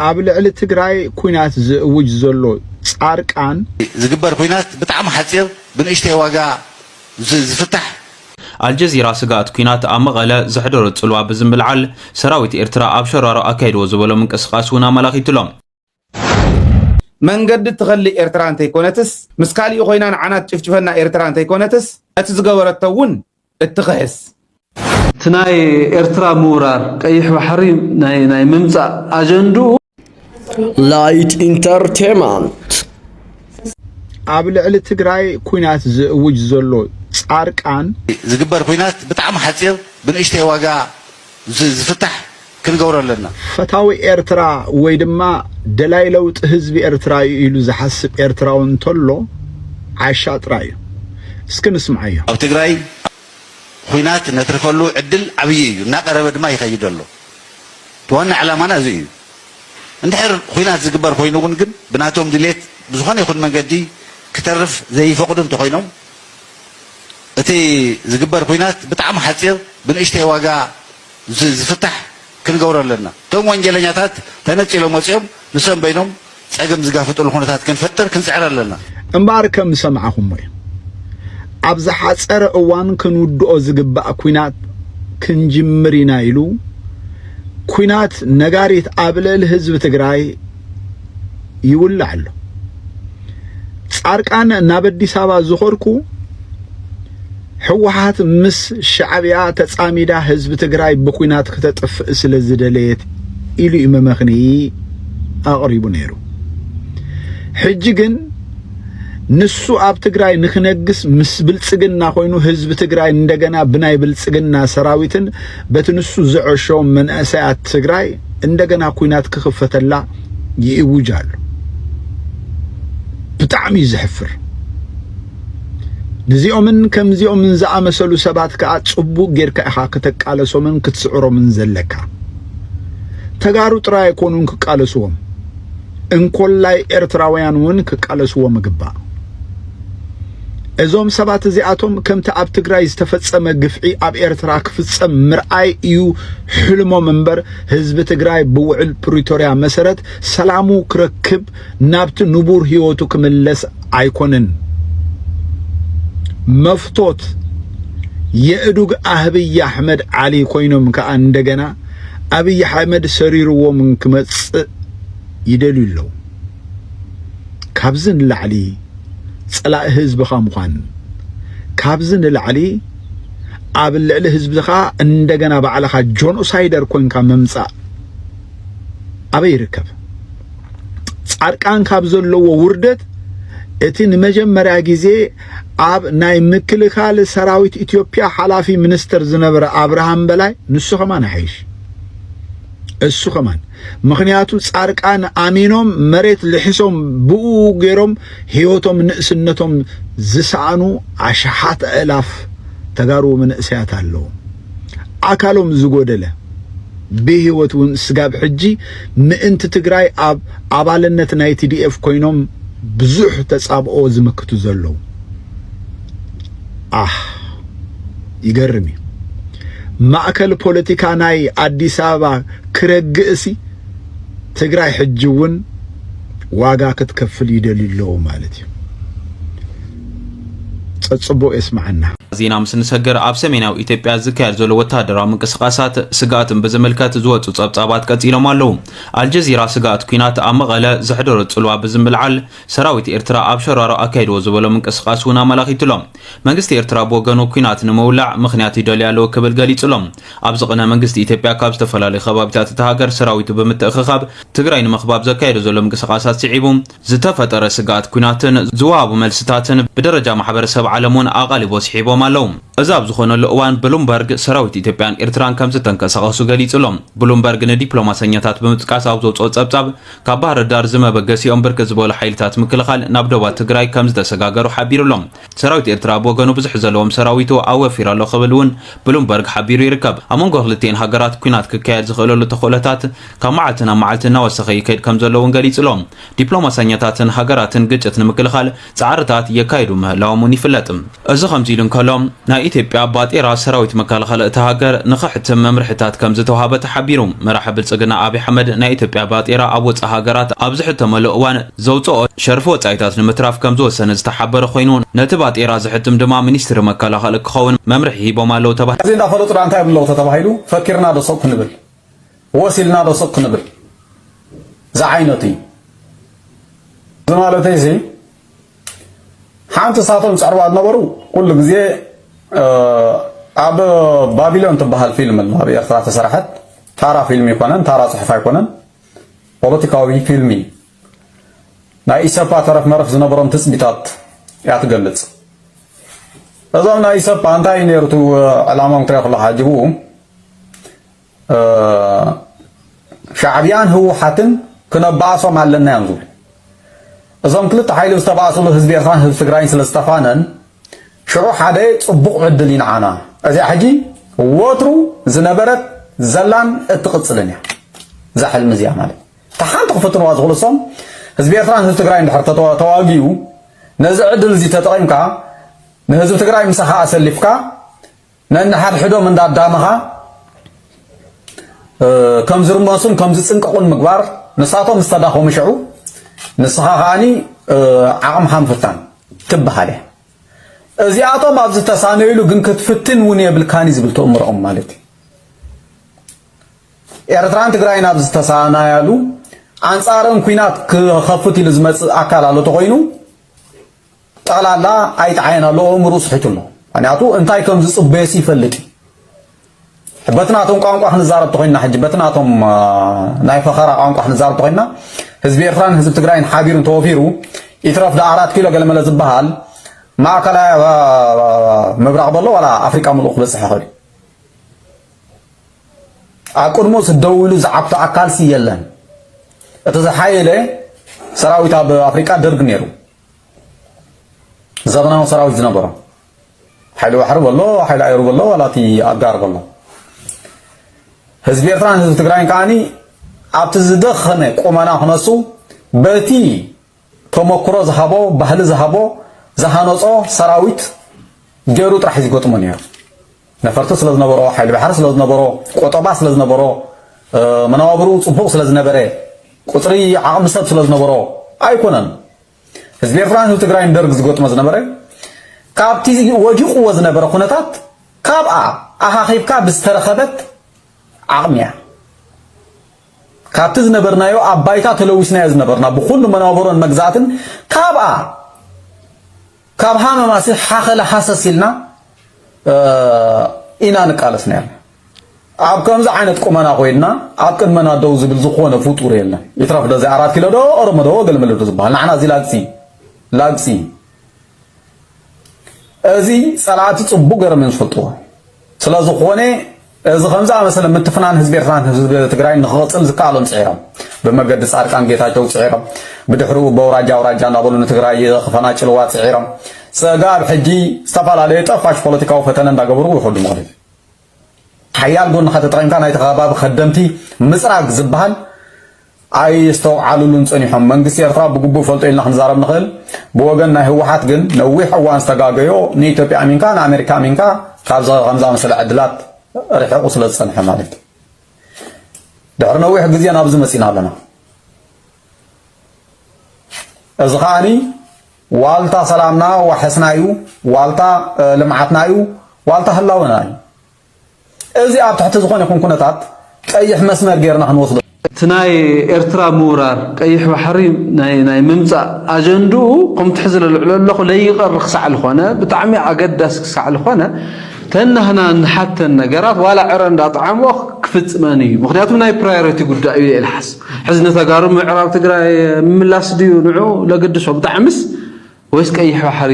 ኣብ ልዕሊ ትግራይ ኩናት ዝእውጅ ዘሎ ፃርቃን። ዝግበር ኩናት ብጣዕሚ ሓፂር ብንእሽተይ ዋጋ ዝፍታሕ። ኣልጀዚራ ስግኣት ኲናት ኣብ መቐለ ዘሕደሮ ጽልዋ ብዝምልዓል፣ ሰራዊት ኤርትራ ኣብ ሸራሮ ኣካይድዎ ዝበሎ ምንቅስቓስ እውን ኣመላኺቱ'ሎ። መንገዲ እትኸልእ ኤርትራ እንተይኮነትስ፣ ምስ ካሊእ ኮይና ንዓና ትጭፍጭፈና ኤርትራ እንተይኮነትስ፣ ነቲ ዝገበረቶ እውን እትኽሕስ። እቲ ናይ ኤርትራ ምውራር ቀይሕ ባሕሪ ናይ ምምጻእ ኣጀንድኡ። ላይት ኢንተርቴመንት። ኣብ ልዕሊ ትግራይ ኩናት ዝእውጅ ዘሎ ፃርቃን። ዝግበር ኩናት ብጣዕሚ ሓፂር ብንእሽተይ ዋጋ። ዝፍታሕ ክንገብሮ ኣለና። ፈታዊ ኤርትራ ወይ ድማ ደላይ ለውጢ ህዝቢ ኤርትራ እዩ ኢሉ ዝሓስብ ኤርትራዊ እንተሎ ዓሻ ጥራይ እዩ። እስኪ ንስምዓዮ። ኣብ ትግራይ ኹናት ነትርፈሉ ዕድል ዓብዪ እዩ፣ እናቀረበ ድማ ይኸይድ ኣሎ። እቲ ዋና ዕላማና እዚ እዩ። እንድሕር ኹናት ዝግበር ኾይኑ እውን ግን ብናቶም ድሌት ብዝኾነ ይኹን መንገዲ ክተርፍ ዘይፈቅዱ እንተኾይኖም፣ እቲ ዝግበር ኩናት ብጣዕሚ ሓጺር ብንእሽተይ ዋጋ ዝፍታሕ ክንገብሮ ኣለና። እቶም ወንጀለኛታት ተነጺሎም ወጺኦም ንሶም በይኖም ጸገም ዝጋፍጥሉ ኩነታት ክንፈጥር ክንጽዕር ኣለና። እምበኣር ከም ዝሰማዕኹሞ እዩ። ኣብ ዝሓጸረ እዋን ክንውድኦ ዝግባእ ኩናት ክንጅምር ኢና ኢሉ ኩናት ነጋሪት ኣብ ልዕሊ ህዝቢ ትግራይ ይውላዕ ኣሎ። ጻርቃን ናብ ኣዲስ ኣበባ ዝኾርኩ ሕወሓት ምስ ሻዕብያ ተጻሚዳ ህዝቢ ትግራይ ብኩናት ክተጥፍእ ስለ ዝደለየት ኢሉ እዩ መመኽኒ ኣቕሪቡ ነይሩ። ሕጂ ግን ንሱ ኣብ ትግራይ ንክነግስ ምስ ብልጽግና ኮይኑ ህዝቢ ትግራይ እንደገና ብናይ ብልጽግና ሰራዊትን በቲ ንሱ ዘዐሾም መንእሰያት ትግራይ እንደገና ኩናት ክኽፈተላ ይእውጅ ኣሎ ብጣዕሚ እዩ ዘሕፍር ንዚኦምን ከምዚኦምን ዝኣመሰሉ ሰባት ከዓ ጽቡቅ ጌርካ ኢኻ ክተቃለሶምን ክትስዕሮምን ዘለካ ተጋሩ ጥራይ ኣይኮኑን ክቃለስዎም እንኮላይ ኤርትራውያን እውን ክቃለስዎም ይግባእ እዞም ሰባት እዚኣቶም ከምቲ ኣብ ትግራይ ዝተፈጸመ ግፍዒ ኣብ ኤርትራ ክፍጸም ምርኣይ እዩ ሕልሞም እምበር ህዝቢ ትግራይ ብውዕል ፕሪቶርያ መሰረት ሰላሙ ክረክብ ናብቲ ንቡር ህይወቱ ክምለስ ኣይኮነን መፍቶት የእዱግ ኣብይ ኣሕመድ ዓሊ ኮይኖም ከዓ እንደገና ኣብይ ኣሕመድ ሰሪርዎም ክመፅእ ይደልዩ ኣለዉ ካብዚ ንላዕሊ ፀላኢ ህዝብኻ ምዃን ካብዚ ንላዕሊ ኣብ ልዕሊ ህዝብኻ እንደገና ባዕልኻ ጆኖሳይደር ኮንካ ምምጻእ ኣበይ ይርከብ? ጻድቃን ካብ ዘለዎ ውርደት እቲ ንመጀመርያ ግዜ ኣብ ናይ ምክልኻል ሰራዊት ኢትዮጵያ ሓላፊ ሚኒስትር ዝነበረ ኣብርሃም በላይ ንሱ ከማን ይሓይሽ። እሱ ከማን ምክንያቱ ጻርቃን ኣሚኖም መሬት ልሕሶም ብኡ ገይሮም ህይወቶም ንእስነቶም ዝሰኣኑ ኣሽሓት ኣእላፍ ተጋሩ መንእሰያት ኣለዉ ኣካሎም ዝጎደለ ብህይወት እውን ስጋብ ሕጂ ምእንቲ ትግራይ ኣብ ኣባልነት ናይ ቲዲኤፍ ኮይኖም ብዙሕ ተጻብኦ ዝምክቱ ዘለዉ ኣሕ ይገርም እዩ ማእከል ፖለቲካ ናይ ኣዲስ ኣበባ ክረግእሲ ትግራይ ሕጂ እውን ዋጋ ክትከፍል ይደልዩ ኣለዉ ማለት እዩ። ጸጽቡቅ የስማዓና። ዜና ምስ ንሰገር ኣብ ሰሜናዊ ኢትዮጵያ ዝካየድ ዘሎ ወተሃደራዊ ምንቅስቓሳት ስግኣትን ብዝምልከት ዝወፁ ጸብጻባት ቀጺሎም ኣለዉ። ኣልጀዚራ ስግኣት ኲናት ኣብ መቐለ ዘሕደሮ ጽልዋ ብዝምልዓል ሰራዊት ኤርትራ ኣብ ሸራሮ ኣካይድዎ ዝበሎ ምንቅስቓስ እውን ኣመላኺቱ'ሎ። መንግስቲ ኤርትራ ብወገኑ ኲናት ንምውላዕ ምኽንያት ይደሊ ኣለዎ ክብል ገሊጹ'ሎ። ኣብዚ ቕነ መንግስቲ ኢትዮጵያ ካብ ዝተፈላለዩ ከባቢታት እታ ሃገር ሰራዊቱ ብምትእኽኻብ ትግራይ ንምኽባብ ዘካየዶ ዘሎ ምንቅስቓሳት ስዒቡ ዝተፈጠረ ስግኣት ኲናትን ዝወሃቡ መልስታትን ብደረጃ ማሕበረሰብ ዓለም እውን ኣቓልቦ ስሒቦም ኣለዉ። እዚ ኣብ ዝኾነሉ እዋን ብሉምበርግ ሰራዊት ኢትዮጵያን ኤርትራን ከምዝተንቀሳቐሱ ገሊጹ'ሎ። ብሉምበርግ ንዲፕሎማሰኛታት ብምጥቃስ ኣብ ዘውጽኦ ጸብጻብ ካብ ባህር ዳር ዝመበገሲኦም ብርክት ዝበሉ ሓይልታት ምክልኻል ናብ ዶባት ትግራይ ከም ዝተሰጋገሩ ሓቢሩ ኣሎ። ሰራዊት ኤርትራ ብወገኑ ብዙሕ ዘለዎም ሰራዊቱ ኣወፊሩ ኣሎ ክብል እውን ብሉምበርግ ሓቢሩ ይርከብ። ኣብ መንጎ ክልቲኤን ሃገራት ኲናት ክካየድ ዝኽእለሉ ተኽእሎታት ካብ መዓልቲ ናብ መዓልቲ እናወሰኸ ይከይድ ከም ዘሎ እውን ገሊጹ ኣሎ። ዲፕሎማሰኛታትን ሃገራትን ግጭት ንምክልኻል ጻዕርታት የካይዱ ምህላዎም'ውን ይፍለጥ። እዚ ከምዚ ኢሉ እንከሎ፣ ናይ ኢትዮጵያ ባጤራ ሰራዊት መከላኸሊ እታ ሃገር ንኸሕትም መምርሒታት ከምዝተውሃበ ተሓቢሩ። መራሒ ብልጽግና ኣብይ ኣሕመድ ናይ ኢትዮጵያ ባጤራ ኣብ ወጻኢ ሃገራት ኣብ ዝሕተመሉ እዋን ዘውጽኦ ሸርፊ ወጻኢታት ንምትራፍ ከምዝወሰነ ዝተሓበረ ኮይኑ፣ ነቲ ባጤራ ዘሕትም ድማ ሚኒስትሪ መከላኸሊ ክኸውን መምርሒ ሂቦም ኣለው ተባሂሉ። እዚ እንዳፈለጡ ድኣ እንታይ ይብሉ ኣለዉ ተተባሂሉ ፈኪርና ዶ ሰው ክንብል ወስ ኢልና ዶ ስቕ ክንብል ዝዓይነቱ እዩ። እዚ ማለተይሲ ሓንቲ እሳቶም ዝጸዕርዋ ዝነበሩ ኩሉ ግዜ ኣብ ባቢሎን ትበሃል ፊልም ኣላ ኣብ ኤርትራ ተሰራሐት ታራ ፊልም ኣይኮነን ታራ ጽሑፍ ኣይኮነን ፖለቲካዊ ፊልም እዩ ናይ ኢሰፓ ተረፍ መረፍ ዝነበሮም ትጽቢታት እያ ትገልጽ እዞም ናይ ኢሰፓ እንታይ ነይሩ ዕላሞም ክሪኦ ከለካ ሓጅቡ ሻዕብያን ህውሓትን ክነባኣሶም ኣለና እዮም ዝብሉ እዞም ክልተ ሓይሊ ዝተባእስሉ ህዝቢ ኤርትራን ህዝቢ ትግራይን ስለ ዝተፋነን ሽዑ ሓደ ጽቡቕ ዕድል ይንዓና እዚኣ ሕጂ ወትሩ ዝነበረት ዘላን እትቕጽልን እያ እዛ ሕልሚ እዚኣ ማለት እታ ሓንቲ ክፍትንዋ ዝኽእሉ እሶም ህዝቢ ኤርትራን ህዝቢ ትግራይን ድሕር ተዋግዩ ነዚ ዕድል እዚ ተጠቒምካ ንህዝቢ ትግራይ ምሳኻ ኣሰሊፍካ ነንሓድሕዶም እንዳዳመኻ ከም ዝርመሱን ከም ዝጽንቀቑን ምግባር ንሳቶም ምስ ተዳኸሙ ሽዑ ንስኻ ከኣኒ ዓቕምኻ ምፍታን ትበሃል እያ። እዚኣቶም ኣብ ዝተሳነይሉ ግን ክትፍትን እውን የብልካኒ ዝብል ተእምሮኦም ማለት እዩ ኤርትራን ትግራይን ኣብ ዝተሳናያሉ ኣንጻረን ኩናት ክኸፍት ኢሉ ዝመጽእ ኣካል ኣሎ ተኾይኑ ጠቕላላ ኣይተ ዓይን ኣሎ ኣእምርኡ ስሒቱ ኣሎ ምክንያቱ እንታይ ከም ዝጽበየሲ ይፈልጥ እዩ በቲ ናቶም ቋንቋ ክንዛረብ ተኮይንና ሕጂ በቲ ናቶም ናይ ፈኸራ ቋንቋ ክንዛረብ ተኮይንና ህዝቢ ኤርትራን ህዝቢ ትግራይን ሓቢሩ ተወፊሩ ይትረፍ ዳ ኣራት ኪሎ ገለመለ ዝበሃል ማእከላይ ምብራቕ በሎ ዋላ ኣፍሪቃ ምሉእ ክበፅሕ ይኽእል እዩ ኣብ ቅድሞ ስደው ኢሉ ዝዓብቶ ኣካልሲ የለን እቲ ዝሓየለ ሰራዊት ኣብ ኣፍሪቃ ደርግ ነይሩ ዘበናዊ ሰራዊት ዝነበሮ ሓይሊ ባሕሪ በሎ ሓይሊ ኣየሩ በሎ ዋላ እቲ ኣጋር በሎ ህዝቢ ኤርትራን ህዝቢ ትግራይን ከዓኒ ኣብቲ ዝደኸመ ቁመና ክነሱ በቲ ተመክሮ ዝሃቦ ባህሊ ዝሃቦ ዝሃነጾ ሰራዊት ገይሩ ጥራሕ እዩ ዝገጥሞ ነይሩ ነፈርቲ ስለ ዝነበሮ፣ ሓይሊ ባሕሪ ስለ ዝነበሮ፣ ቁጠባ ስለ ዝነበሮ፣ መነባብርኡ ጽቡቕ ስለ ዝነበረ፣ ቁጽሪ ዓቕሚ ሰብ ስለ ዝነበሮ ኣይኮነን። ህዝቢ ኤርትራን ህዝቢ ትግራይን ደርግ ዝገጥሞ ዝነበረ ካብቲ ወዲቕዎ ዝነበረ ኩነታት ካብኣ ኣኻኺብካ ብዝተረኸበት ዓቕሚ እያ። ካብቲ ዝነበርናዮ ኣብ ባይታ ተለዊስናዮ ዝነበርና ብኩሉ መነባብሮን መግዛእትን ካብኣ ካብ ሃመማሲ ሓኸላ ሃሰስ ኢልና ኢና ንቃለስ ነይርና። ኣብ ከምዚ ዓይነት ቁመና ኮይንና ኣብ ቅድመና ደው ዝብል ዝኾነ ፍጡር የለን። ይትረፍ ዶ እዚ ኣራት ኪሎ ዶ ኦሮሞ ዶ ገልመለ ዶ ዝበሃል ንዓና እዚ ላግጺ ላግጺ እዚ ጸላእቲ ጽቡቕ ገይሮም እዮም ዝፈልጥዎ። ስለዝኾነ እዚ ከምዝኣመሰለ ምትፍናን ህዝቢ ኤርትራን ህዝቢ ትግራይን ንክቕፅል ዝከኣሎም ፅዒሮም ብመገዲ ፃድቃን ጌታቸው ፅዒሮም ብድሕሪኡ በውራጃ ኣውራጃ እናበሉ ንትግራይ ክፈናጭልዋ ፅዒሮም ፀጋብ ሕጂ ዝተፈላለዩ ጠፋሽ ፖለቲካዊ ፈተነ እንዳገበሩ ይኸዱ ምኽንዩ ሓያል ጎንኻ ተጠቒምካ ናይቲ ከባቢ ከደምቲ ምፅራግ ዝበሃል ኣየስተውዓሉሉን ጸኒሖም። መንግስቲ ኤርትራ ብግቡእ ይፈልጦ ኢልና ክንዛረብ ንኽእል። ብወገን ናይ ህወሓት ግን ነዊሕ እዋን ዝተጋገዮ ንኢትዮጵያ ኣሚንካ ንኣሜሪካ ኣሚንካ ካብዚ ከም ዝኣመሰለ ዕድላት ርሒቑ ስለ ዝጸንሐ ማለት እዩ። ድሕሪ ነዊሕ ግዜ ናብዚ መጺና ኣለና። እዚ ከዓኒ ዋልታ ሰላምና ዋሕስና እዩ፣ ዋልታ ልምዓትና እዩ፣ ዋልታ ህላወና እዩ። እዚ ኣብ ትሕቲ ዝኾነ ይኹን ኩነታት ቀይሕ መስመር ጌርና ክንወስዶ እቲ ናይ ኤርትራ ምውራር ቀይሕ ባሕሪ ናይ ናይ ምምጻእ ኣጀንድኡ ከምቲ ሕዚ ለልዕሎ ኣለኹ ለይቀር ክሳዕ ልኾነ ብጣዕሚ ኣገዳሲ ክሳዕ ልኾነ ተናህና ንሓተን ነገራት ዋላ ዕረ እንዳጠዓምኦ ክፍጽመን እዩ ምክንያቱ ናይ ፕራዮሪቲ ጉዳይ እዩ የልሓስ ሕዚ ንተጋሩ ምዕራብ ትግራይ ምምላስ ድዩ ንዑ ለግድሶ ብጣዕምስ ወይስ ቀይሕ ባሕሪ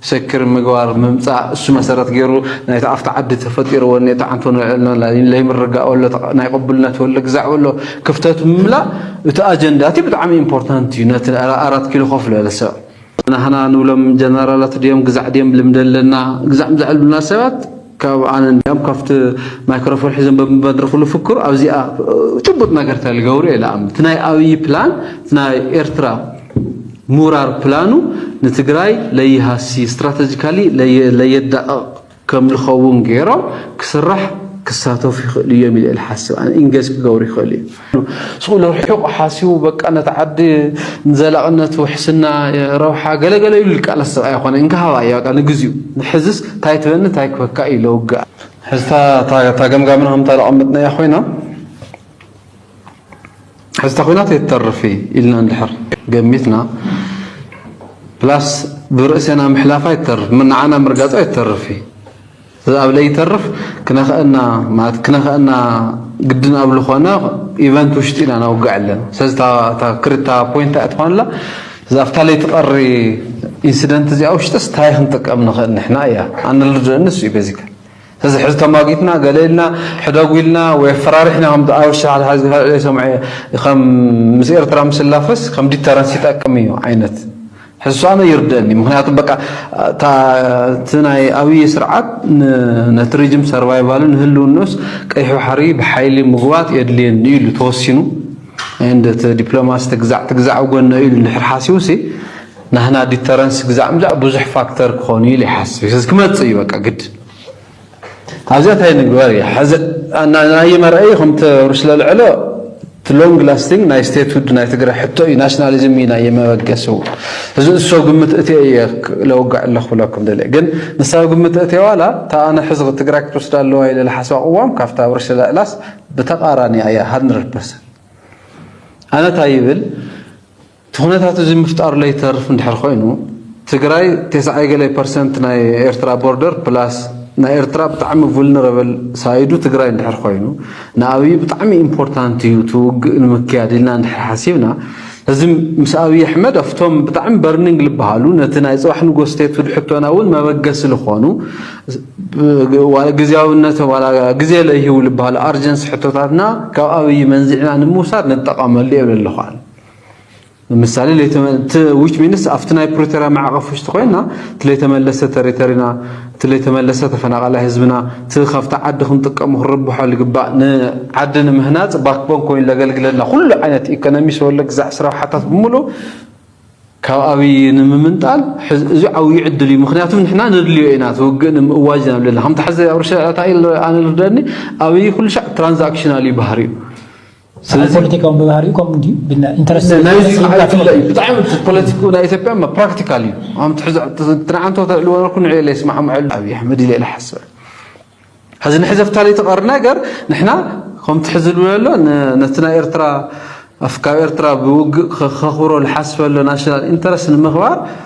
ሰክር ምግባር ምምጻእ እሱ መሰረት ገይሩ ናይቲ ኣብቲ ዓዲ ተፈጢሩ ወኔ ተዓንቶ ንዕልና ለይምርጋእ ወሎ ናይ ቅቡልነት ወሎ ግዛዕ ወሎ ክፍተት ምምላእ እቲ ኣጀንዳ እቲ ብጣዕሚ ኢምፖርታንት እዩ ነቲ ኣራት ኪሎ ኮፍ ዝበለ ሰብ ናህና ንብሎም ጀነራላት ድዮም ግዛዕ ድዮም ልምዲ ኣለና ግዛዕ ምዛዕ ዝብሉና ሰባት ካብ ኣነ እንዲያም ካብቲ ማይክሮፎን ሒዞም በብመድረኹ ልፍክሩ ኣብዚኣ ጭቡጥ ነገር ተልገብሩ እየ ልኣምን እቲ ናይ ኣብዪ ፕላን እቲ ናይ ኤርትራ ምውራር ፕላኑ ንትግራይ ለይሃሲ ስትራተጂካሊ ለየዳቕቕ ከም ልኸውን ገይሮም ክስራሕ ክሳተፉ ይኽእሉ እዮም ኢለ ልሓስብ ኣነ ኢንገጅ ክገብሩ ይኽእሉ እዮም ስእሉ ርሒቑ ሓሲቡ በቃ ነቲ ዓዲ ንዘላቕነት ውሕስና ረብሓ ገለገለ ኢሉ ዝቃለስ ሰብኣይ ኮነ እንካ ሃባ እያ በቃ ንግዚኡ ንሕዝስ እንታይ ትበኒ እንታይ ክበካ እዩ ለውግኣ ሕዝታ እታ ገምጋምና ከምታ ዘቐመጥናያ ኮይና ሕዝታ ኮይናት የተርፍ ኢልና እንድሕር ገሚትና ፕላስ ብርእሴና ምሕላፋ ይተርፍ ንዓና ምርጋፃ ይተርፍ እዩ እዛ ለይተርፍ ክነኸእና ማለት ክነኸእና ግድን ኣብ ልኾነ ኢቨንት ውሽጢ ኢና ነውግዕ ኣለና። ስለዚ እታ ክርታ ፖይንት እያ ትኾን ኣላ እዛ ኣብታ ለይትቐሪ ኢንሲደንት እዚኣ ውሽጥስ እንታይ ክንጥቀም ንኽእል ንሕና እያ ኣነ ልርድኦ ንሱ እዩ በዚካ እዚ ሕዚ ተማጊትና ገለ ኢልና ሕደጉ ኢልና ወይ ኣፈራሪሕና ከም ኣበሻ ሓድሓደ ዝፈለለዩ ሰምዐ ከም ምስ ኤርትራ ምስላፈስ ከም ዲተረንስ ይጠቅም እዩ ዓይነት ሕሳመ ይርደኒ ምክንያቱ በቃ እቲ ናይ ኣብይ ስርዓት ነቲ ሪጅም ሰርቫይቫሉ ንህልውኖስ ቀይሑ ሓሪ ብሓይሊ ምጉባጥ የድልየኒ ኢሉ ተወሲኑ እንደ እቲ ዲፕሎማሲ ትግዛዕ ትግዛዕ ጎነ ኢሉ እንድሕር ሓሲቡ ሲ ናህና ዲተረንስ ግዛዕ ምዛዕ ብዙሕ ፋክተር ክኾኑ ኢሉ ይሓስብ ክመፅእ እዩ በቃ ግድ ኣብዚኣ ታይ ንግበር እያ ሐዚ ናይይ መርኣይ ከምተሩ ስለልዕሎ እቲ ሎንግ ላስቲንግ ናይ ስቴትሁድ ናይ ትግራይ ሕቶ እዩ ናሽናሊዝም እዩ ናይ መበገሲ እዚ እሶ ግምት እትየ እየ ለውጋዕ ኣለኹ ብለኩም ደለ ግን ንሳብ ግምት እትየ ዋላ እታ ኣነ ሕዚ ትግራይ ክትወስዳ ኣለዋ ኢለ ዝሓስባ ቅዋም ካብታ ኣብ ርእሲ ለዕላስ ብተቃራኒያ እያ ሃንድረድ ፐርሰንት ኣነ እንታይ ይብል እቲ ኩነታት እዚ ምፍጣሩ ለይተርፍ እንድሕር ኮይኑ ትግራይ ቴስዓይ ገለ ፐርሰንት ናይ ኤርትራ ቦርደር ፕላስ ናይ ኤርትራ ብጣዕሚ ቭልነረበል ሳይዱ ትግራይ እንድሕር ኮይኑ ንኣብይ ብጣዕሚ ኢምፖርታንት እዩ እቲ ውግእ ንምክያድ ኢልና እንድሕር ሓሲብና እዚ ምስ ኣብይ ኣሕመድ ኣብቶም ብጣዕሚ በርኒንግ ዝበሃሉ ነቲ ናይ ፅባሕ ንጎ ስቴትሁድ ሕቶና እውን መበገሲ ዝኾኑ ግዜያዊነት ዋላ ግዜ ለይህቡ ዝበሃሉ ኣርጀንሲ ሕቶታትና ካብ ኣብይ መንዚዕና ንምውሳድ ንጠቐመሉ የብለለኹ ኣነ ምሳሌ ዊች ሚንስ ኣብቲ ናይ ፕሪቶሪያ ማዕቐፍ ውሽጢ ኮይና እቲ ለይተመለሰ ተሪተሪና እቲ ለይተመለሰ ተፈናቃላይ ህዝብና እቲ ካብቲ ዓዲ ክንጥቀሙ ክንርብሐሉ ይግባእ ንዓዲ ንምህናፅ ባክቦን ኮይኑ ለገልግለና ኩሉ ዓይነት ኢኮኖሚ ሰወለ ግዛዕ ስራብሓታት ብምሉእ ካብ ኣብይ ንምምንጣል እዚ ዓብዩ ዕድል እዩ ምክንያቱ ንሕና ንድልዮ ኢና እቲ ውግእ ንምእዋጅ ኢና ብለና ከምቲ ሕዚ ኣብ ርሻ እንታይ ኣነ ልርደኒ ኣብይ ኩሉ ሻዕ ትራንዛክሽናል እዩ ባህሪኡ ስለዚ ፖለቲካውን ብባህሪኡ ከምኡ ድዩ ናይዚ ክዓይፍለ እዩ ብጣዕሚ ፖለቲክ ናይ ኢትዮጵያ ፕራክቲካል እዩ ትንዓንቶ ተእልዎ ነርኩ ንዕ ኢለ ይስማዕምዐሉ ኣብዪ ኣሕመድ ኢለ ኢለ ሓስበ ሕዚ ንሕዘፍታ ለይተቐር ነገር ንሕና ከምቲ ሕዚ ዝብሎ ኣሎ ነቲ ናይ ኤርትራ ኣፍካብ ኤርትራ ብውግእ ከኽብሮ ዝሓስበሎ ናሽናል ኢንተረስት ንምኽባር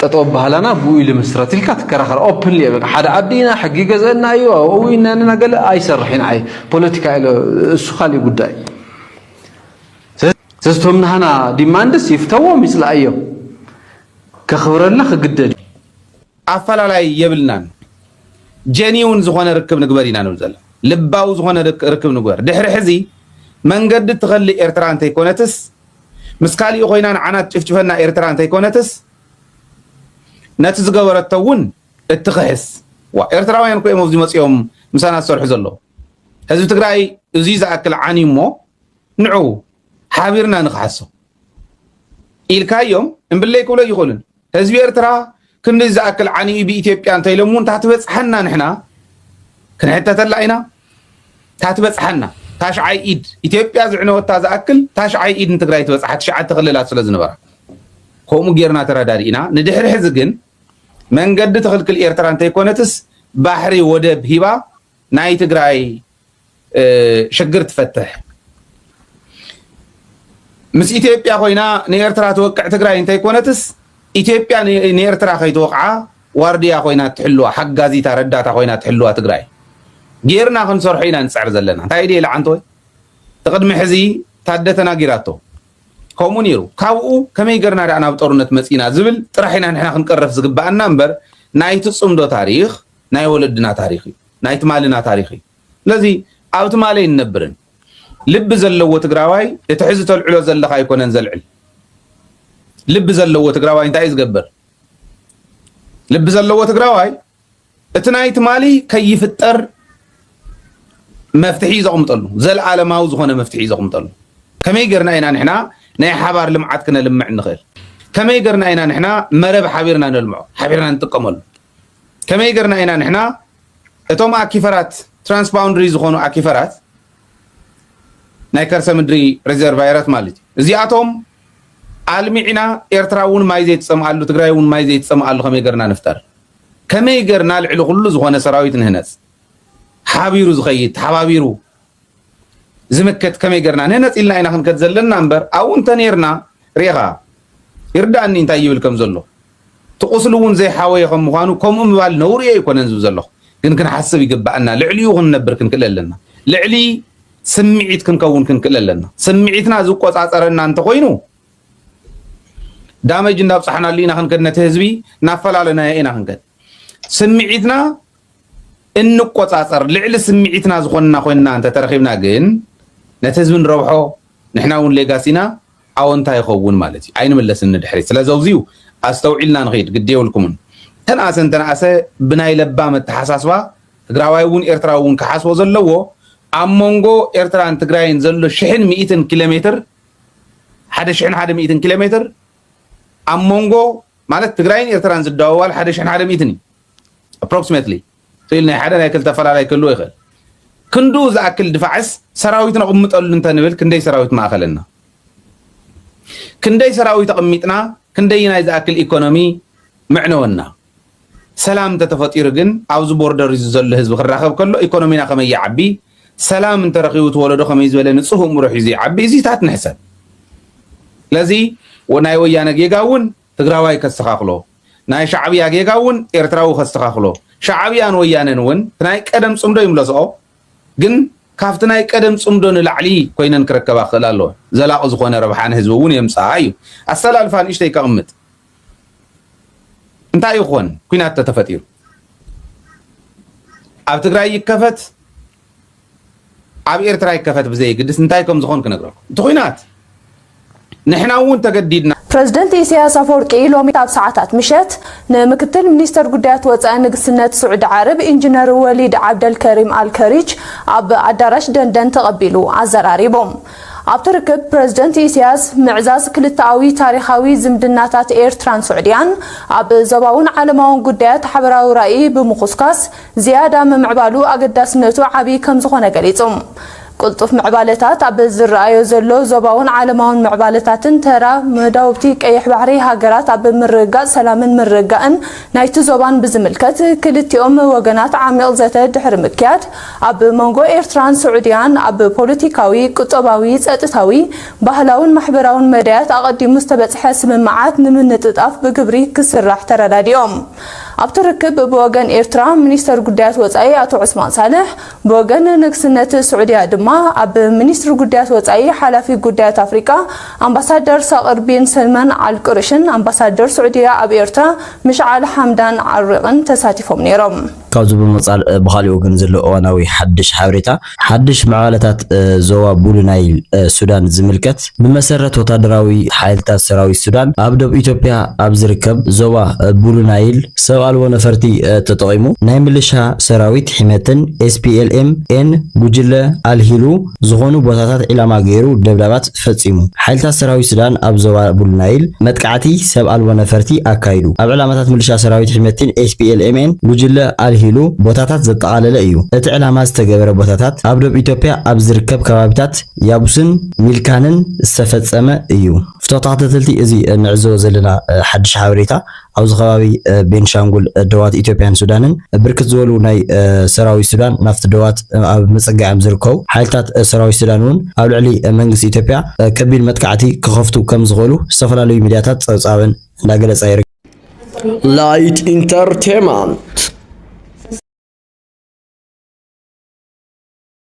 ጠጠው ኣባህላና ብኡ ልምስረት ኢልካ ትከራኸር ኦፕንሊ እየ በቃ ሓደ ዓዲ ኢና ሕጊ ይገዝአና እዩ ኣብኡ ኢናንና ገለ ኣይሰርሕን ዓይ ፖለቲካ ኢሎ እሱ ካሊእ ጉዳይ ስለዚ ቶም ናህና ዲማንድስ ይፍተዎም ይፅላእዮም ከኽብረልና ክግደድ እዩ ኣፈላላይ የብልናን ጀኒውን ዝኾነ ርክብ ንግበር ኢና ንብል ዘለና ልባዊ ዝኾነ ርክብ ንግበር ድሕሪ ሕዚ መንገዲ ትኸሊ ኤርትራ እንተይኮነትስ ምስ ካሊእ ኮይና ንዓና ትጭፍጭፈና ኤርትራ እንተይኮነትስ ነቲ ዝገበረቶ እውን እትኽሕስ ዋ ኤርትራውያን እኮ እዮም ኣብዚ መፅኦም ምሳና ዝሰርሑ ዘለዉ ህዝቢ ትግራይ እዙይ ዝኣክል ዓንዩ እሞ ንዑ ሓቢርና ንክሓሶ ኢልካዮም እምብለይ ክብሎ ይኽእሉን ህዝቢ ኤርትራ ክንድዚ ዝኣክል ዓንዩ ብኢትዮጵያ እንተኢሎም እውን ታትበፅሐና ንሕና ክንሕተተላ ኢና ታትበፅሐና ታሽዓይ ኢድ ኢትዮጵያ ዝዕነወታ ዝኣክል ታሽዓይ ኢድ ንትግራይ ትበፅሓ ትሽዓተ ክልላት ስለ ዝነበራ ከምኡ ጌርና ተረዳዲእና ንድሕሪ ሕዚ ግን መንገዲ ትኽልክል ኤርትራ እንተይኮነትስ ባሕሪ ወደብ ሂባ ናይ ትግራይ ሽግር ትፈትሕ ምስ ኢትዮጵያ ኮይና ንኤርትራ ትወቅዕ ትግራይ እንተይኮነትስ ኢትዮጵያ ንኤርትራ ከይትወቕዓ ዋርድያ ኮይና ትሕልዋ ሓጋዚታ ረዳታ ኮይና ትሕልዋ ትግራይ ጌርና ክንሰርሖ ኢና ንፅዕር ዘለና እንታይ ድየ ልዓንተወ ትቅድሚ ሕዚ ታደ ተናጊራቶ ከምኡ ነይሩ ካብኡ ከመይ ገርና ዳኣ ናብ ጦርነት መፂና ዝብል ጥራሕ ኢና ንሕና ክንቀረፍ ዝግባኣና እምበር ናይቲ ፅምዶ ታሪክ ናይ ወለድና ታሪኽ እዩ፣ ናይ ትማልና ታሪኽ እዩ። ስለዚ ኣብ ትማል ኣይንነብርን። ልቢ ዘለዎ ትግራዋይ እቲ ሕዚ ተልዕሎ ዘለኻ ኣይኮነን ዘልዕል። ልቢ ዘለዎ ትግራዋይ እንታይ እዩ ዝገብር? ልቢ ዘለዎ ትግራዋይ እቲ ናይ ትማሊ ከይፍጠር መፍትሒ ዘቕምጠሉ ዘለኣለማዊ ዝኾነ መፍትሒ ዘቕምጠሉ ከመይ ጌርና ኢና ንሕና ናይ ሓባር ልምዓት ክነልምዕ ንኽእል ከመይ ጌርና ኢና ንሕና መረብ ሓቢርና ነልምዖ ሓቢርና ንጥቀመሉ ከመይ ገርና ኢና ንሕና እቶም ኣኪፈራት ትራንስ ባውንድሪ ዝኾኑ ኣኪፈራት ናይ ከርሰ ምድሪ ሬዘርቫየራት ማለት እዩ እዚኣቶም ኣልሚዕና ኤርትራ እውን ማይ ዘይትፀምኣሉ ትግራይ እውን ማይ ዘይትፀምኣሉ ከመይ ገርና ንፍጠር ከመይ ገርና ልዕሊ ኩሉ ዝኾነ ሰራዊት ንህነፅ ሓቢሩ ዝኸይድ ተሓባቢሩ ዝምክት ከመይ ገርና ነነጺልና ኢና ክንከድ ዘለና እምበር ኣብኡ እንተኔርና ርኢኻ ይርዳእኒ እንታይ ይብል ከም ዘሎ እቲ ቁስሊ እውን ዘይሓወየ ከም ምዃኑ ከምኡ ምባል ነውሪ ኣይኮነን ዝብ ዘለኹ ግን ክንሓስብ ይግባኣና ልዕሊኡ ክንነብር ክንክእል ኣለና ልዕሊ ስምዒት ክንከውን ክንክእል ኣለና ስምዒትና ዝቆፃፀረና እንተኮይኑ ዳመጅ እንዳብፃሕናሉ ኢና ክንከድ ነቲ ህዝቢ እናፈላለናዮ ኢና ክንከድ ስምዒትና እንቆጻጸር ልዕሊ ስምዒትና ዝኾንና ኮይንና እንተተረኺብና ግን ነቲ ህዝቢ ንረብሖ ንሕና እውን ሌጋሲና ኣወንታ ይኸውን ማለት እዩ ኣይንምለስን ንድሕሪት ስለ ዘውዚዩ ኣስተውዒልና ንኽድ ግዲ የብልኩምን ተንኣሰ እንተንኣሰ ብናይ ለባም ኣተሓሳስባ ትግራዋይ እውን ኤርትራዊ እውን ክሓስቦ ዘለዎ ኣብ መንጎ ኤርትራን ትግራይን ዘሎ ሽሕን ሚእትን ኪሎ ሜትር ሓደ ሽሕን ሓደ ሚእትን ኪሎ ሜትር ኣብ መንጎ ማለት ትግራይን ኤርትራን ዝደዋዋል ሓደ ሽሕን ሓደ ሚእትን እዩ Approximately ኺል ናይ ሓደ ናይ ክልተ ኣፈላላይ ክህልዎ ይኽእል። ክንድኡ ዝኣክል ድፋዕስ ሰራዊት ነቕምጠሉ እንተንብል ክንደይ ሰራዊት ምኣኸለና? ክንደይ ሰራዊት ኣቕሚጥና ክንደይናይ ዝኣክል ኢኮኖሚ ምዕነወና? ሰላም እንተተፈጢሩ ግን ኣብዚ ቦርደር እዚ ዘሎ ህዝቢ ክራኸብ ከሎ ኢኮኖሚና ከመይ ይዓቢ? ሰላም እንተረኺቡ እቲ ወለዶ ከመይ ዝበለ ንፁህ እምሮ ሒዙ ይዓቢ? እዚታት ንሕሰብ። ስለዚ ናይ ወያነ ጌጋ እውን ትግራዋይ ከስተኻኽሎ ናይ ሻዕብያ ጌጋ እውን ኤርትራዊ ከስተኻኽሎ ሻዕብያን ወያነን እውን ትናይ ቀደም ፅምዶ ይምለስኦ ግን ካፍቲ ናይ ቀደም ፅምዶ ንላዕሊ ኮይነን ክረከባ ክኽእላ ኣለወን ዘላቒ ዝኾነ ረብሓ ንህዝቢ እውን የምፅኣ እዩ ኣሰላልፋ ንእሽተይ ከቕምጥ እንታይ ይኾን ኩናት ተተፈጢሩ ኣብ ትግራይ ይከፈት ኣብ ኤርትራ ይከፈት ብዘይግድስ እንታይ ከም ዝኾን ክነግረኩም እቲ ኩናት ንሕና እውን ተገዲድና ፕረዚደንት ኢሳያስ ኣፈወርቂ ሎሚ ኣብ ሰዓታት ምሸት ንምክትል ሚኒስተር ጉዳያት ወጻኢ ንግስነት ስዑዲ ዓረብ ኢንጂነር ወሊድ ዓብደልከሪም ኣልከሪች ኣብ ኣዳራሽ ደንደን ተቐቢሉ ኣዘራሪቦም። ኣብቲ ርክብ ፕረዚደንት ኢሳያስ ምዕዛዝ ክልተኣዊ ታሪኻዊ ዝምድናታት ኤርትራን ስዑድያን ኣብ ዞባውን ዓለማውን ጉዳያት ሓበራዊ ራኢ ብምኹስኳስ ዝያዳ ምምዕባሉ ኣገዳስነቱ ዓብዪ ከምዝኾነ ገሊፁ። ቅልጡፍ ምዕባለታት ኣብ ዝረኣዮ ዘሎ ዞባውን ዓለማውን ምዕባለታትን ተራ መዳውብቲ ቀይሕ ባሕሪ ሃገራት ኣብ ምርግጋፅ ሰላምን ምርግጋእን ናይቲ ዞባን ብዝምልከት ክልቲኦም ወገናት ዓሚቕ ዘተ ድሕሪ ምክያድ ኣብ መንጎ ኤርትራን ስዑድያን ኣብ ፖለቲካዊ፣ ቁጠባዊ፣ ፀጥታዊ፣ ባህላውን ማሕበራውን መዳያት ኣቐዲሙ ዝተበፅሐ ስምምዓት ንምንጥጣፍ ብግብሪ ክስራሕ ተረዳዲኦም። ኣብቲ ርክብ ብወገን ኤርትራ ሚኒስተር ጉዳያት ወጻኢ ኣቶ ዑስማን ሳልሕ፣ ብወገን ንግስነት ስዑድያ ድማ ኣብ ሚኒስትሪ ጉዳያት ወጻኢ ሓላፊ ጉዳያት ኣፍሪቃ ኣምባሳደር ሳቅር ቢን ሰልመን ኣል ቁርሽን ኣምባሳደር ስዑድያ ኣብ ኤርትራ ምሽዓል ሓምዳን ዓሪቅን ተሳቲፎም ነይሮም። ካብዚ ብምቅጻል ብኻሊእ ወገን ዘሎ እዋናዊ ሓድሽ ሓበሬታ፣ ሓድሽ ምዕባለታት ዞባ ቡሉ ናይል ሱዳን ዝምልከት፣ ብመሰረት ወታደራዊ ሓይልታት ሰራዊት ሱዳን፣ ኣብ ዶብ ኢትዮጵያ ኣብ ዝርከብ ዞባ ቡሉ ናይል ሰብ ኣልቦ ነፈርቲ ተጠቒሙ ናይ ምልሻ ሰራዊት ሒመትን ኤስፒኤልኤም ኤን ጉጅለ ኣልሂሉ ዝኾኑ ቦታታት ዒላማ ገይሩ ደብዳባት ፈጺሙ። ሓይልታት ሰራዊት ሱዳን ኣብ ዞባ ቡል ናይል መጥቃዕቲ ሰብ ኣልቦ ነፈርቲ ኣካይዱ። ኣብ ዕላማታት ምልሻ ሰራዊት ሒመቲን፣ SPLMN፣ ጉጅለ ኣልሂሉ ቦታታት ዘጠቓለለ እዩ። እቲ ዕላማ ዝተገበረ ቦታታት ኣብ ዶብ ኢትዮጵያ ኣብ ዝርከብ ከባቢታት ያቡስን ሚልካንን ዝተፈጸመ እዩ። ተኸታተልቲ እዚ እንዕዘቦ ዘለና ሓድሽ ሓበሬታ ኣብዚ ከባቢ ቤንሻንጉል ዶባት ኢትዮጵያን ሱዳንን ብርክት ዝበሉ ናይ ሰራዊት ሱዳን ናብቲ ዶባት ኣብ ምፅጋዕ'ዮም ዝርከቡ። ሓይልታት ሰራዊት ሱዳን እውን ኣብ ልዕሊ መንግስቲ ኢትዮጵያ ከቢድ መጥቃዕቲ ክኸፍቱ ከም ዝኽእሉ ዝተፈላለዩ ሚድያታት ፀብፃበን እንዳገለፃ ይርከባ። Light Entertainment